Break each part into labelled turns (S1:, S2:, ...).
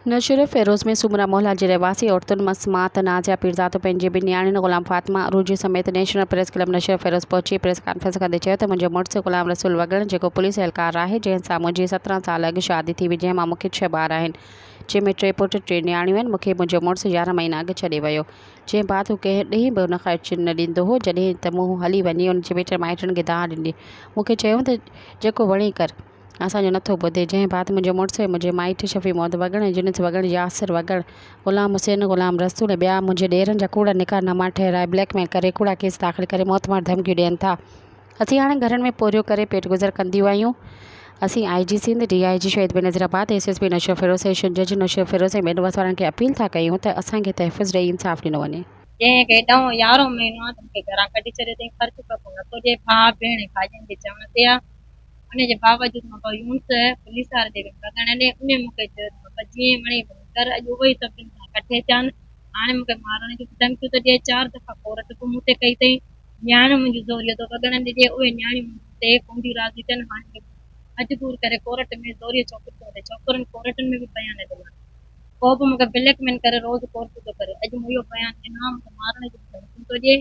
S1: نوشهرو فيروز ۾ سومرا محلا جي رهواسي عورتن مان سماعت نازيا پيرزادو پنهنجي ٻن نياڻين غلام فاطمه عروجي سميت national press club Naushahro Feroze پهچي پريس ڪانفرنس ڪندي چيو ته منهنجو مڙس غلام رسول وڳڻ جيڪو پوليس اهلڪار آهي جنهن سان منهنجي سترهن سال اڳ شادي ٿي هئي جنهن مان مون کي ڇهه ٻار آهن جنهن ۾ ٽي پٽ ٽي نياڻيون آهن مون کي منهنجو مڙس يارهن مهينا اڳ ڇڏي ويو جنهن بعد هو ڪنهن ڏينهن به ان کان اچڻ نه ڏيندو هو جڏهن ته مون هلي وڃي ان جي مٽن مائٽن کي دانهن ڏني مون کي چيائون ته جيڪو وڻي ڪر. اسان جو نٿو ٻڌي، جنهن بعد منهنجو مڙس ۽ منهنجي مائٽ شفيع محمد وڳڻ ۽ جنس وڳڻ، ياسر وڳڻ، غلام حسين، غلام رسول ۽ ٻيا منهنجي ڏيرن جا ڪوڙا نڪاح ناما ٺهرائي بليڪ ميل ڪري ڪوڙا ڪيس داخل ڪري موتمار ڌمڪيون ڏين ٿا. اسين هاڻي گهرن ۾ پورهيو ڪري پيٽ گذر ڪنديون آهيون. اسين آء جي Sindh, D I G Shaheed Benazirabad, S S P Naushahro Feroze, session جج نوشير فيروز ۽ بينڊ باز وارن کي اپيل ٿا ڪيون ته اسان کي تحفظ ڏئي انصاف ڏنو وڃي. جنهن کي ڏهون يارهون مهينو آ تن کي گهران ڪڍي ڇڏيو اٿئين
S2: خرچ ڪبو نٿو ڏئي ڀاء ڀيڻ ۽ ڀاڄين جي چوڻ تي آ. ان جي باوجود مان بابا يونس پوليس وارن جي وچ لڳڻ ڏني. انهيء مون کي چيو ته بابا جيئن وڻي ڀلي ڪر، اڄ اهو ئي سڀني سان ڪٺي ٿيان. هاڻي مون کي مارڻ جون به ڌمڪيون ٿو ڏئي. چار دفعا ڪورٽ به مون تي ڪئي اٿئي. نياڻيون منهنجون زوريء ٿو وڳڻن ڏجي. اهي نياڻيون مون تي ڪونديون راضي ٿين. هاڻي مون مجبور ڪري ڪورٽ ۾ زوريء ڇوڪري ٿو وٺي. ڇوڪرين ڪورٽن ۾ به بيان ڏنا. ڪو به مون کي بليڪ ميل ڪري روز ڪورٽون ٿو ڪري. اڄ مون اهو بيان ڏنو آهي. مون کي مارڻ جون به ڌمڪيون ٿو ڏئي.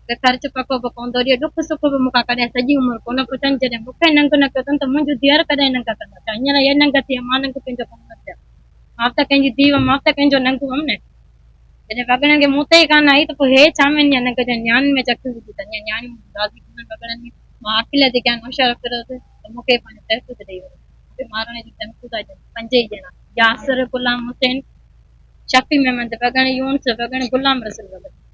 S2: ته خرچ پڪو به پوندو ڏي، ڏک سک به مون کان ڪڏهن سڄي عمر ڪونه پڇن، جڏهن مون کي ننگ نه ڪيو اٿن ته منهنجون ڌيئر ڪڏهن ننگ ڪندا ڇا؟ هينئر اهي ننگ ٿي ويا، مان ننگ ڪنهن جو ڪم نه ٿيان، مان به ته ڪنهن جي ڌيء هئم، مان به ته ڪنهن جو ننگ هئم نه، جڏهن وڳڻن کي مون تي ئي ڪانه آئي ته پوء هيء ڇا مين يا ننگ جا نياڻين ۾ چا ڪيون وجهي ٿا، يا نياڻيون منهنجون راضي ڪونهن وڳڻن ۾، مان عاقله جي گيان هوشيار ڦريس ته مون کي ئي پنهنجو تحفظ ڏيئي ويو، مون کي مارڻ جي ڌمڪيون ٿا ڏين، پنج ئي ڄڻا، ياسر، غلام حسين، شفيع محمد وڳڻ، يونس وڳڻ، غلام رسول وڳڻ.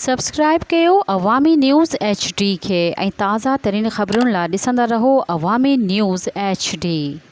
S2: سبسڪرائيب
S1: ڪيو عوامي نيوز ايڇ ڊي کي ۽ تازه ترين خبرن لا ڏسندا رهو عوامي نيوز ايڇ ڊي.